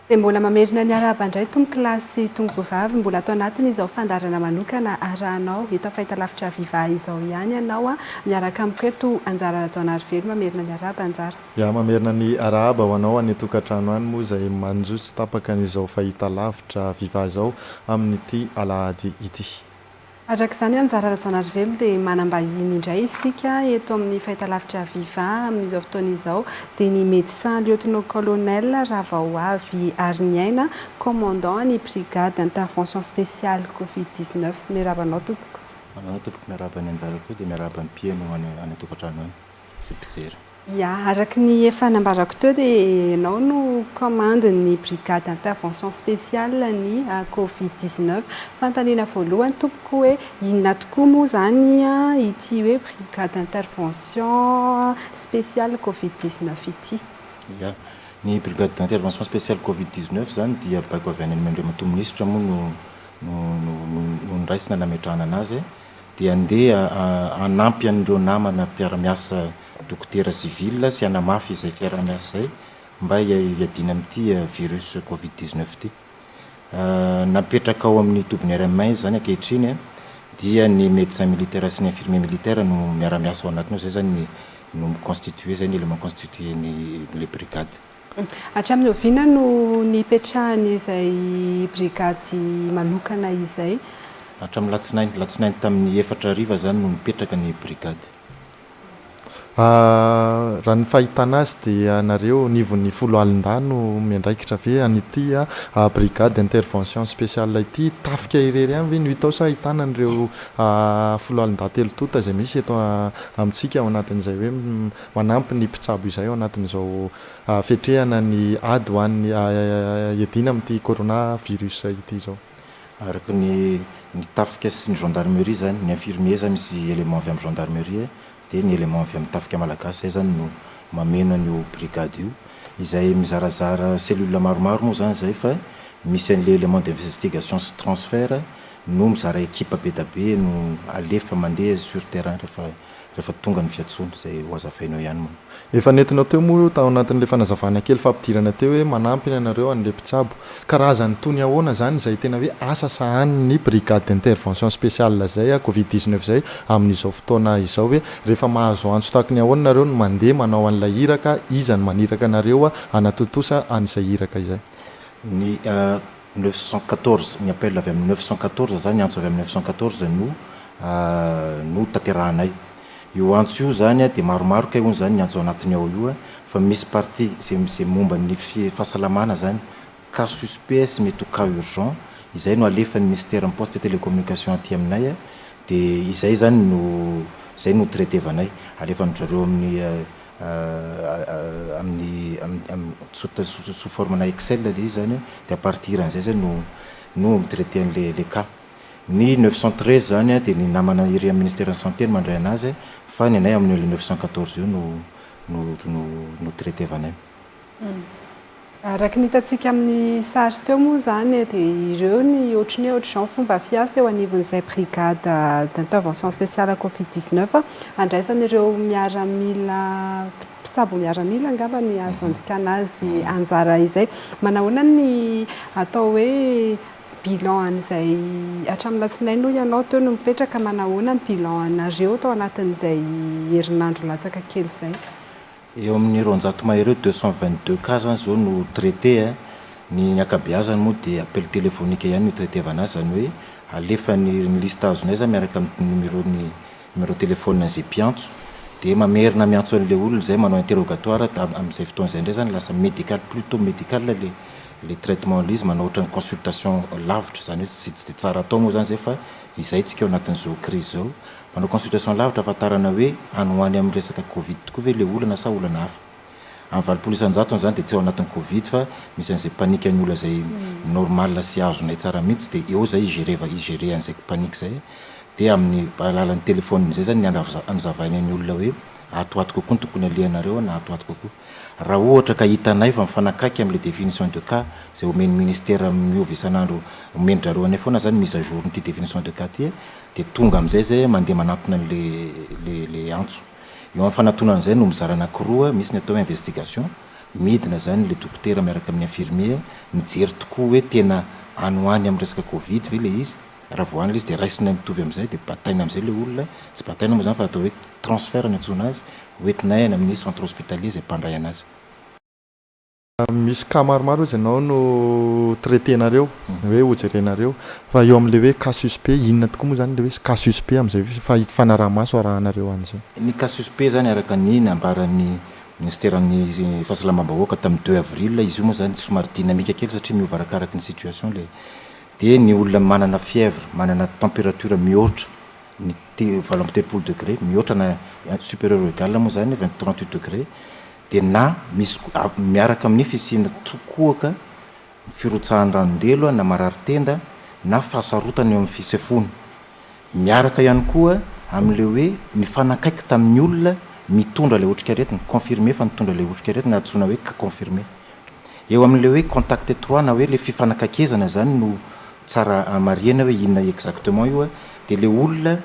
Dia mbola mamerina ny arahaba indray tompokolahy sy tompokovavy mbola ato anatiny izao fandaharana manokana arahanao hita fahitalavitra viva izao ihany ianao a! miaraka amiko eto Anjara Rajaonarivelo mamerina ny arahaba Anjara. Ya mamerina ny arahaba ho anao any an-tokantrano any moa izay manjo tsy tapaka an'izao fahitalavitra viva izao amin'ity alahady ity. Araka izany, Anjara Rajaonarivelo, dia manam-bahiny indray isika eto amin'ny fahitalavitra Viva amin'izao fotoana izao, dia ny Médecin Lieutenant-Colonel Ravaoavy Ariniaina, Commandant ny Brigade Intervention Spéciale Covid 19. Miarahaba anao tompoko. Aminao tompoko, miarahaba ny anjara koa, dia miarahaba ny mpiheno any an-tokantrano any. sy mpijery. Ya, araka ny efa nambarako teo dia ianao no commande ny brigade intervention spéciale ny covid 19. Fanontaniana voalohany tompoko hoe inona tokoa moa izany ity hoe brigade intervention spéciale covid 19 ity? Ya, ny brigade d'intervention spéciale covid 19 izany dia baiko avy any amin'Andriamatoa Minisitra moa no no no no no noraisina nametrahana an'azy dia handeha hanampy an'ireo namana mpiara-miasa dokotera sivila sy hanamafy izay fiaraha-miasa izay mba hiadiana amin'ity virus covid dix neuf ity. Napetraka ao amin'ny tobin'ny RMA izy izany ankehitriny an, dia ny médecin militaire sy ny infirmier militaire no miara-miasa ao anatiny ao, izay izany no mi-constituer, izay no élément constituer an'ilay brigade. Hatramin'ny oviana no nipetrahany izay brigady manokana izay? Hatramin'ny latsinainy, alatsinainy tamin'ny efatra hariva izany no nipetraka ny brigady. Raha ny fahitana azy dia nareo anivon'ny folo alin-dahy no miandraikitra ve an'ity brigade intervention speciale ity? Tafika irery ihany ve no hita ao sa ahitana an'ireo folo alin-dahy telo tonta izay misy eto amintsika ao anatin'izay hoe Manampy ny mpitsabo izay ao anatin'izao fetrehana ny ady ho an'ny iadiana amin'ity Corona virus ity izao. Araka ny ny tafika sy ny gendarmerie izany, ny infirmier izany misy élément avy amin'ny gendarmerie dia ny élément avy amin'ny tafika malagasy izay izany no mameno an'io brigade io izay mizarazara cellule maromaro moa izany izay fa misy an'ilay élément d'investigation sy transfert no mizara équipe be dia be no alefa mandeha sur terrain rehefa rehefa tonga ny fiantsoana, izay ho hazavainao ihany moa. Efa nentinao teo moa tao anatin'ilay fanazavana kely fampidirana teo hoe manampy ny anareo an'ilay mpitsabo. Karazan'ny tony ahoana izany izay tena hoe asa sahanin'ny Brigade d'Intervention Spéciale izay a Covid dix neuf izay amin'izao fotoana izao hoe rehefa mahazo antso tahaka ny ahoana nareo no mandeha manao an'ilay iraka, iza no maniraka anareo hanatontosa an'izay iraka izay? Ny. neuf cent quatorze, ny appel avy amin'ny neuf cent quatorze izany, antso avy amin'ny neuf cent quatorze no no tanterahanay. Io antso io izany dia maromaro kay hono izany ny antso ao anatiny ao io fa misy partie izay izay momba ny fahasalamana izany, cas suspect sy mety ho cas urgent, izay no alefan'ny minisiteran'ny poste et télécommunication aty aminay dia izay izany no izay no traitevanay, alefan'dry zareo amin'ny amin'ny amin'ny sous forme-na excel ilay izy izany an, dia à partir an'izay izay no no mi-traiter an'ilay ilay cas. Ny neuf cent treize izany an dia ny namana ery amin'ny ministeran'ny santé no mandray an'azy fa ny anay amin'io neuf cent quatorze io no no no no traiter-vanay. Araka ny hitantsika amin'ny sary teo moa izany dia ireo ny ohatry ny hoe ohatr'izao ny fomba fiasa eo anivon'izay brigade d'intervention spéciale covid 19 handraisan'ireo miaramila mpitsabo miaramila angamba ny azo andikana azy anjara izay. Manahoana ny atao hoe bilan an'izay hatramin'ny alatsinainy hoy ianao teo no mipetraka, manahoana ny bilan anareo tao anatin'izay herinandro latsaka kely izay? Eo amin'ny roanjato mai ireo, deux cent vingt deux cas zany zao no traiter a, ny ny ankabeazany moa dia appel téléphonique ihany no itraitevana azy, zany hoe alefa ny ny liste azonay zany miaraka amin'ny numéro ny numéro téléphone an'izay mpiantso, dia mamerina miantso an'ilay olona izay manao interrogatoire, dia amin'izay fotoana izay indray zany lasa médical, plus tôt médical le le traitement, le izy manao ohatran'ny consultation lavitra, zany hoe tsy tsy dia tsara atao moa zany zay fa izay tsika ao anatin'izao crise zao. Manao consultation lavitra ahafantarana hoe any ho any amin'ny resaka covid tokoa ve ilay olana sa olana hafa. Amin'ny valopolo isan-jatony izany dia tsy ao anatin'ny covid fa misy an'izay panique ny olona izay normal sy azonay tsara mihitsy dia eo izay igereva igerer an'izay panique izay dia amin'ny alalan'ny téléphone izay izany ny andrava anazavainay ny olona hoe ato ato kokoa no tokony alehanareo na ato ato kokoa. Raha ohatra ka hitanay fa mifanakaiky amin'ilay définition de cas izay omen'ny ministère miova isan'andro omen-dry zareo anay foana izany mise à jour-n'ity définition de cas ity Dia tonga amin'izay izay mandeha manatona ilay antso. Eo amin'ny fanatonana izay no mizara anankiroa, misy ny atao hoe investigation, midina izany ilay dokotera miaraka amin'ny infirmier mijery tokoa hoe tena any ho any amin'ny resaka covid ve ilay izy, raha vao any ilay izy dia raisina mitovy amin'izay dia bataina amin'izay ilay olona, tsy bataina moa izany fa atao hoe transfert no iantsoana azy, hoentinay any amin'ny centre hospitalier izay mpandray an'azy. Misy cas maromaro ozy ianao no traiter-nareo hoe hojerenareo fa eo amin'ilay hoe cas suspect inona tokoa moa izany ilay hoe cas suspect amin'izay hoe efa hifanaraha-maso arahanareo an'izay? Ny cas suspect izany araka ny nambaran'ny minisiteran'ny fahasalamam-bahoaka tamin'ny deux avril, izy io moa izany somary dynamique kely satria miova arakaraka ny situation ilay, dia ny olona manana fièvre, manana température mihoatra ny te- valo amby telopolo degré, mihoatra na supérieur ou égal moa izany vingt, trente huit degré, dia na misy miaraka amin'ny fisiana tokoaka ny firotsahan'ny ranon-delo na marary tenda na fahasarotana eo amin'ny fisefoana. Miaraka ihany koa amin'ilay hoe mifanakaiky tamin'ny olona mitondra ilay otrikaretina, confirmé fa nitondra ilay otrikaretina, antsoina hoe cas confirmé. Eo amin'ilay hoe contact étroit na hoe ilay fifanakaikezana izany no tsara hamarihana hoe inona exactement io dia ilay olona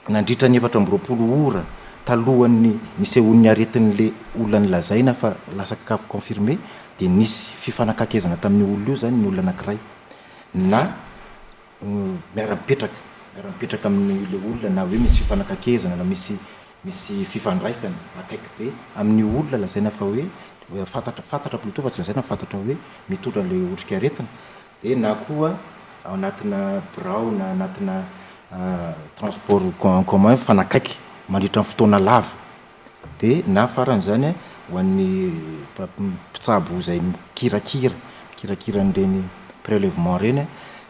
Nandritra ny efatra amby roapolo ora talohan'ny nisehoan'ny aretin'le olona nilazaina fa lasa kakapo confirmé dia nisy fifanakaikezana tamin'io olona io zany ny olona anakiray na miara-mipetraka miara-mipetraka amin'le olona na hoe misy fifanakaikezana na misy misy fifandraisana akaiky be amin'io olona lazaina fa hoe fantatra fantatra plutôt fa tsy lazaina fa fantatra hoe mitondra le otrikaretina dia na koa ao anatina birao na anatina transport en commun mifanakaiky mandritra ny fotoana lava dia na faran'izany ho an'ny mpitsabo izay mikirakira mikirakira an'ireny prelevement ireny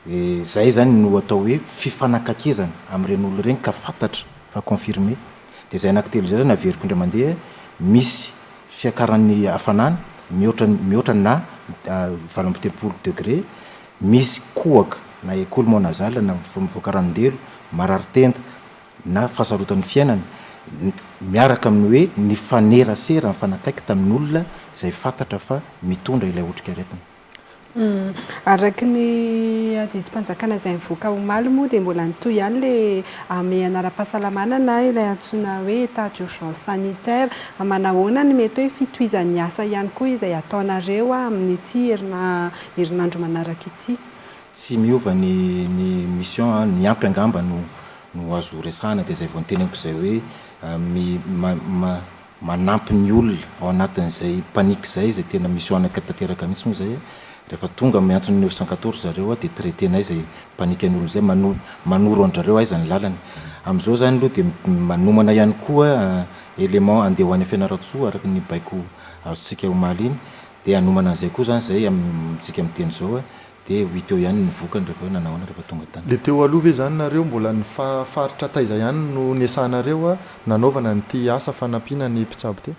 dia izay izany no atao hoe fifanakaikezana amin'ireny olona ireny ka fantatra fa confirmé Dia izay anankitelo izay izao no averiko indray mandeha, misy fiakaran'ny hafanana mihoatra ny mihoatra na valo amby telopolo degré, misy kohaka na écoulement nasal na mivoaka ranon-delo, marary tenda na fahasarotan'ny fiainana, miaraka amin'ny hoe nifanerasera, nifanakaiky tamin'olona izay fantatra fa mitondra ilay otrikaretina. Araka ny adidimpanjakana izay nivoaka omaly moa dia mbola nitohy ihany ilay hamehana ara-pahasalamana na ilay antsoina hoe état d'urgence sanitaire. Manahoana no mety hoe fitohizan'ny asa ihany koa izay ataonareo amin'ity herinandro manaraka ity? Tsy miova ny ny mission an, ny ampy angamba no no azo resahana dia izay vao noteneniko izay hoe mi ma ma manampy ny olona ao anatin'izay panique izay, izay tena misy oanaka tanteraka mihitsy moa izay, rehefa tonga miantso ny neuf cent quatorze zareo dia traiter-nay izay panique an'olona izay, mano- manoro an-dRareo aiza ny lalany. Amin'izao izany aloha dia manomana ihany koa élément handeha ho any Fianarantsoa araka ny baiko azontsika omaly iny, dia hanomana an'izay koa izany izay amintsika miteny izao hoe. Dia ho hita eo ihany ny vokany rehefa hoe nanao ahoana rehefa tonga tany. Le teo aloha ve zany nareo mbola ny faritra taiza ihany no nesahanareo nanaovana an'ity asa fanampiana ny mpitsabo ty?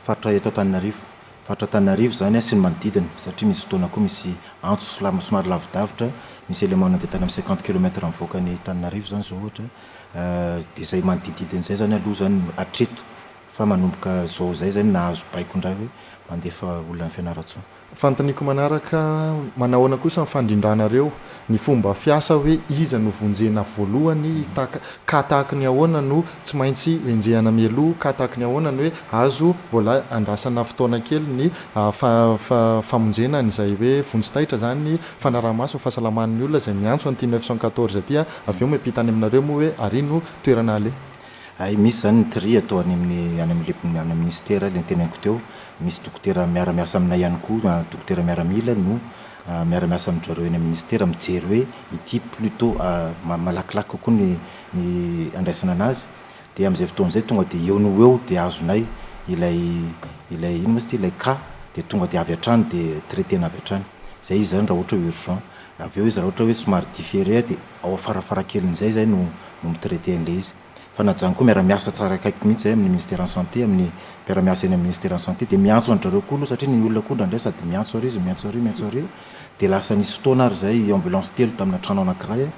Faritra eto Antananarivo. Faritra Antananarivo zany sy ny manodidina satria misy fotoana koa misy antso somary lavidavitra, misy élément nandeha tany amin'ny cinquante kilomètre mivoaka ny Antananarivo zany zao ohatra, dia izay manodidididina izay zany aloha zany no hatreto fa manomboka zao izay zany nahazo baiko indray hoe mandefa olona any Fianarantsoa. Fanontaniako manaraka, manahoana kosa ny fandrindranareo ny fomba fiasa hoe iza no vonjena voalohany, cas tahaka ny ahoana no tsy maintsy enjehana mialoha, cas tahaka ny ahoana ny hoe azo mbola andrasana fotoana kely ny famonjena an'izay hoe vonjy taitra izany, fanaraha-maso ny fahasalaman'ny olona izay miantso an'ity neuf cent quatorze ity, avy eo miampita any aminareo moa hoe ary no toerana aleha. Hay misy izany ny tri atao any amin'ny any amin'ny any minisitera, ilay noteneniko teo, misy dokotera miara-miasa aminay ihany koa, dokotera miaramila no miara-miasa amin-dry zareo eny amin'ny minisitera mijery hoe ity plutot malakilaky kokoa ny ny andraisana an'azy dia amin'izay fotoana izay tonga dia eo no ho eo dia azonay ilay ilay inona moa izy ity ilay cas dia tonga dia avy hatrany dia traiter-na avy hatrany. Izay izy izany raha ohatra hoe urgent. Avy eo izy raha ohatra hoe somary differe dia Ao farafarakelin'izay izay no no mi-traiter an'ilay izy. Fa na zany koa miara-miasa tsara akaiky mihitsy izay amin'ny Ministeran'ny Santé, amin'ny mpiara-miasa eny amin'ny Ministeran'ny Santé dia miantso an-dry zareo koa aloha satria ny olona koa indraindray sady miantso ary izy, miantso ary, miantso ary. Dia lasa nisy fotoana ary izay ambulance telo tamina trano anankiray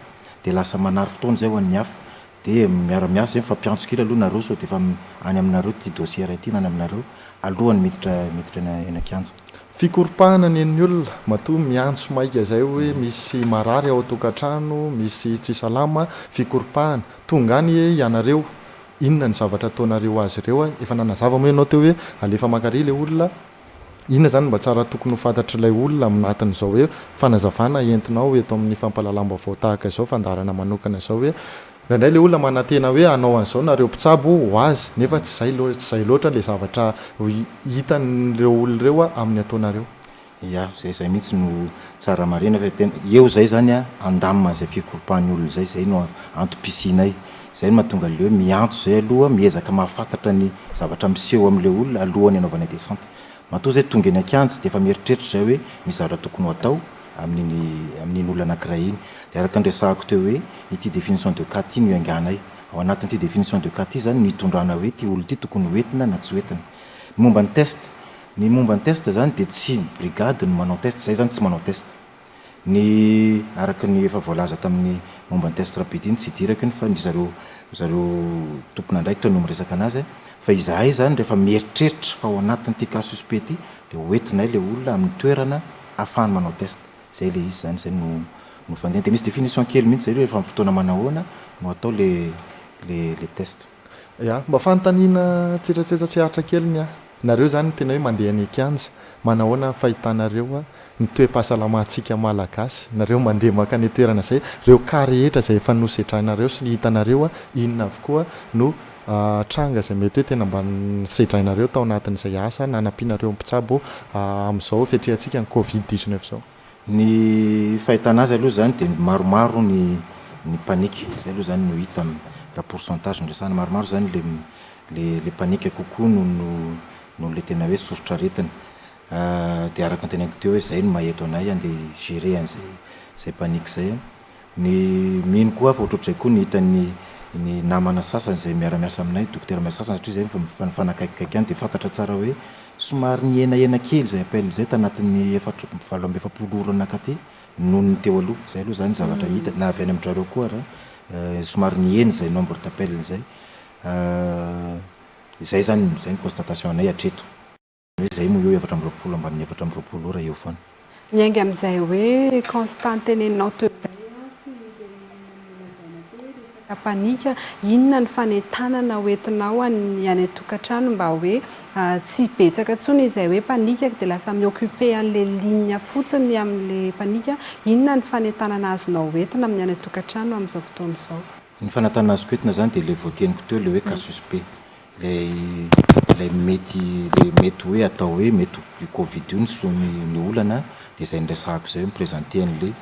dia lasa manary fotoana izay ho an'ny hafa. dia miara miasa zay mifampiantso kely aloha nareo sao dia efa any aminareo ity dossier iray ity na any aminareo alohan'ny miditra miditra eny an-kianja. Fikoropahana ny an'ny olona, matoa miantso maika zay hoe misy marary ao an-tokantrano, misy tsy salama, fikoropahana. Tonga any ianareo, inona ny zavatra ataonareo azy ireo, efa nanazava moa ianao teo hoe alefa Makary ilay olona, Inona izany no mba tsara tokony ho fantatr'ilay olona amin'ny atin'izao hoe fanazavana entinao eto amin'ny fampahalalam-baovao tahaka izao, fandaharana manokana izao hoe, indraindray ilay olona manantena hoe hanao an'izao nareo mpitsabo ho azy nefa tsy izay tsy izay loatra ilay zavatra hitan'ireo olona ireo amin'ny ataonareo. Ia, izay izay mihitsy no tsara marihina fa tena eo izay izany handamina izay fikoropahany olona izay, izay no antom-pisianay. Izay no mahatonga leo miantso izay aloha, miezaka mahafantatra ny zavatra miseho amin'ilay olona alohan'ny anaovana descente. Matoa izay tonga eny an-kianja dia efa mieritreritra izay hoe misy zavatra tokony ho atao amin'iny amin'iny olona anankiray iny. Dia araka ny resahako teo hoe ity définition de cas ity no ianganay. Ao anatin'ity définition de cas ity izany no itondrana hoe ity olona ity tokony ho entina na tsy ho entina. Ny momba ny test, ny momba ny test izany dia tsy ny brigade no manao test, izahay izany tsy manao test. Ny araka ny efa voalaza tamin'ny momba ny test rapide iny tsy idirako iny fa ny zareo ry zareo tompon'andraikitra no miresaka anazy fa izahay izany rehefa mieritreritra fa ao anatin'ity cas suspect ity dia ho entinay ilay olona amin'ny toerana ahafahany manao test. Izay ilay izy izany, izay no no fandehany. Dia misy définition kely mihitsy izay hoe rehefa amin'ny fotoana manahoana no atao ilay ilay ilay test. Ya, mba fanontaniana tsetsatsetsa tsy aritra kely ny ahy. Nareo zany tena hoe mandeha any an-kianja, manahoana ny fahitanareo ny toe-pahasalamantsika Malagasy, nareo mandeha makany toerana zay, reo cas rehetra zay efa nosedrainareo sy hitanareo inona avokoa no tranga zay mety hoe tena mba nosedrainareo tao anatin'izay asa nanampianareo mpitsabo amin'izao fetrehantsika ny covid dix-neuf zao. Ny fahitana azy aloha izany dia maromaro ny ny panique, izay aloha izany no hita amin'ny raha pourcentage no resahana, maromaro izany le le le panique kokoa noho no noho le tena hoe soritr'aretina. Dia araka ny teneniko teo hoe izay no maha-eto anay andeha hi-gérer an'izay izay panique izay. Ny mino koa aho fa ohatrohatr'izay koa ny hitan'ny ny namana sasany izay miara-miasa aminay, dokotera miasa sasany satria izay efa mifanakaikikaiky ihany dia fantatra tsara hoe somary nihenahena kely izay appel izay tanatin'ny efatra amby valo amby efapolo ora nakaty noho ny teo aloha. Izay aloha izany zavatra hita na avy any amin-drareo koa ary somary nihena izay nombre d'appel izay. Izay izany izay ny constatation anay hatreto. Hoe zay moa eo efatra amby roapolo ambaniny efatra amby roapolo ora eo foana. Miainga amin'izay hoe constant teneninao teo izay Ansy dia inona no nolazaina teo hoe resaka panika, inona ny fanentanana ho entinao any any an-tokantrano mba hoe tsy hibetsaka intsony izay hoe panika dia lasa mi-occuper an'ilay ligne fotsiny amin'ilay panika, inona ny fanentanana azonao ho entina amin'ny any an-tokantrano amin'izao fotoana izao? Ny fanantanana azoko entina zany dia ilay voateniko teo ilay hoe casus be. Ilay ilay mety ilay mety hoe atao hoe mety io covid io niso- ny olana dia izay niresahako izay hoe mi-presenter an'ilay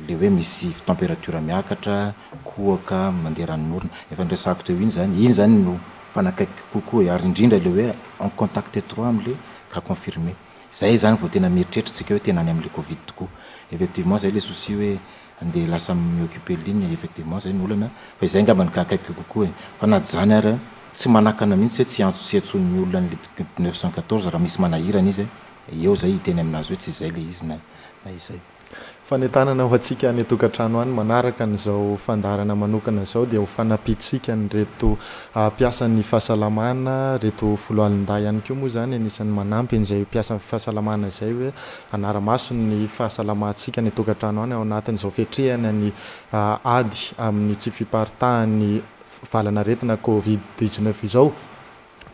ilay hoe misy temperature miakatra, kohaka, mandeha ranon'orona. Efa niresahako teo iny zany, iny zany no fanakaikiko kokoa ary indrindra ilay hoe en contact etroit amin'ilay cas confirmé. Izay zany vao tena mieritreritra isika hoe tena any amin'ilay covid tokoa. Effectivement izay ilay souci hoe. andeha lasa mi occuper ligne effectivement zay no olana fa izay angamba no akaiky kokoa e! fa na dzany ary tsy manakana mihitsy hoe tsy antso tsy antsoin'ny olona ny lit neuf cent quatorze raha misy manahirana izy e! eo zay hiteny aminazy hoe tsy izay le izy na na izay. Fanentanana ho antsika any an-tokantrano any manaraka an'izao fandaharana manokana izao dia ho fanampiantsika an'ireto mpiasa ny fahasalamana, ireto foloalindahy ihany koa moa izany anisan'ny manampy an'izay mpiasa fahasalamana izay hoe Hanara-maso ny fahasalamantsika any an-tokantrano any ao anatin'izao fiatrehana ny ady amin'ny tsy fiparitahan'ny valan'aretina covid dix neuf izao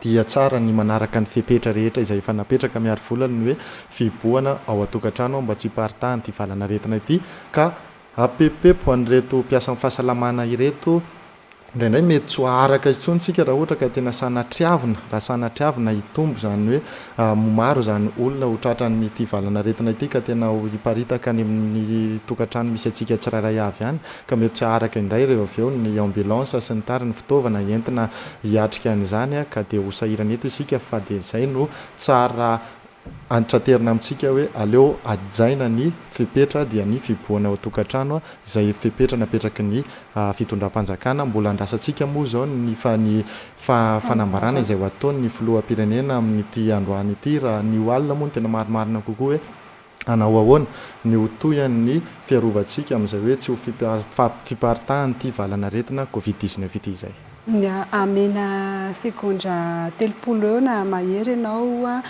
dia tsara ny manaraka ny fepetra rehetra izay efa napetraka miarivola ny hoe fihibohana ao an-tokantrano aho mba tsy hiparitahan'ity valan'aretina ity ka apepopepo an'ireto mpiasan'ny fahasalamana ireto Indraindray mety tsy ho aharaka intsony isika raha ohatra ka tena sanatriavina, raha sanatriavina hitombo izany hoe ho maro izany olona ho tratran'ity valan'aretina ity ka tena ho hiparitaka any amin'ny tokantrano misy antsika tsirairay avy any ka mety tsy haharaka indray ireo avy eo ny ambulance sy ny tariny fitaovana entina hiatrika an'izany ka dia ho sahirana eto isika fa dia izay no tsara Antitraterina amintsika hoe aleo hajaina ny fepetra dia ny fibohana ao an-tokantrano izay fepetra napetraky ny fitondram-panjakana. Mbola andrasantsika moa izao ny fa ny fa fanambarana izay ho ataon' ny filoham-pirenena amin' ity androany ity raha ny ho alina moa no tena marimarina kokoa hoe hanao ahoana ny ho tohian' ny fiarovantsika amin' izay hoe tsy ho fiparitahan' ity valan'aretina covid dix-neuf ity izay. Amena segondra telopolo eo na mahery ianao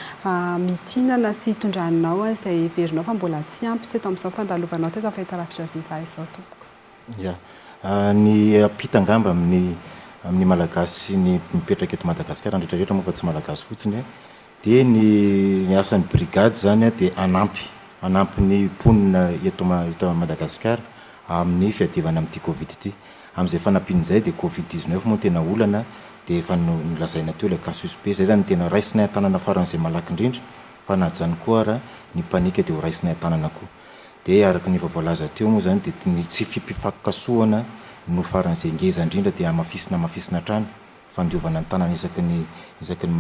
mitinana sy itondranao an'izay heverinao fa mbola tsy ampy teto amin'izao fandalovanao teto amin'ny fahitalavitra viva izao tompoko. Ya. Ny ampita angamba amin'ny amin'ny Malagasy sy ny mipetraka eto Madagasikara, ny rehetra rehetra moa fa tsy Malagasy fotsiny e! Dia ny ny asan'ny brigade izany dia hanampy hanampy ny mponina eto ma eto Madagasikara amin'ny fiadivana amin'ity covid ity. Amin'izay fanampiana izay dia covid 19 moa no tena olana dia efa no nolazaina teo ilay cas suspect. Izay izany no tena raisinay an-tanana faran'izay malaky indrindra fa na zany koa ara ny panika dia ho raisinay an-tanana koa. Dia araka ny efa voalaza teo moa izany dia ny tsy fipifakokasohana no faran'izay ngeza indrindra dia hamafisina hamafisina hatrany. fandiovana ny tanana isaky ny isaky ny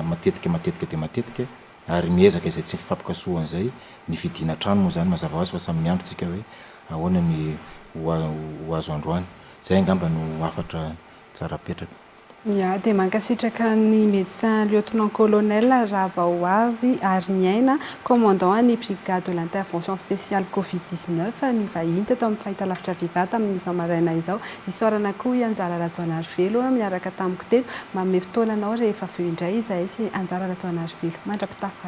matetika matetika dia matetika ary miezaka izay tsy fifampikasohana izay ny fidiana trano moa izany mazava ho azy fa samy miandry tsika hoe ahoana ny ho azo androany. Izay angamba no hafatra tsara apetraka. Ya, dia mankasitraka an'i Médecin Lieutenant Colonel Ravaoavy Hariniaina, Commandant an'ny Brigade de l'Intervention Spéciale Covid 19 nivahiny teto amin'ny fahitalavitra Viva tamin'izao maraina izao. Isaorana koa i Anjara Rajaonarivelo niaraka tamiko teto. Manome fotoana anao rehefa avy eo indray izahay sy Anjara Rajaonarivelo. Mandra-pitafa.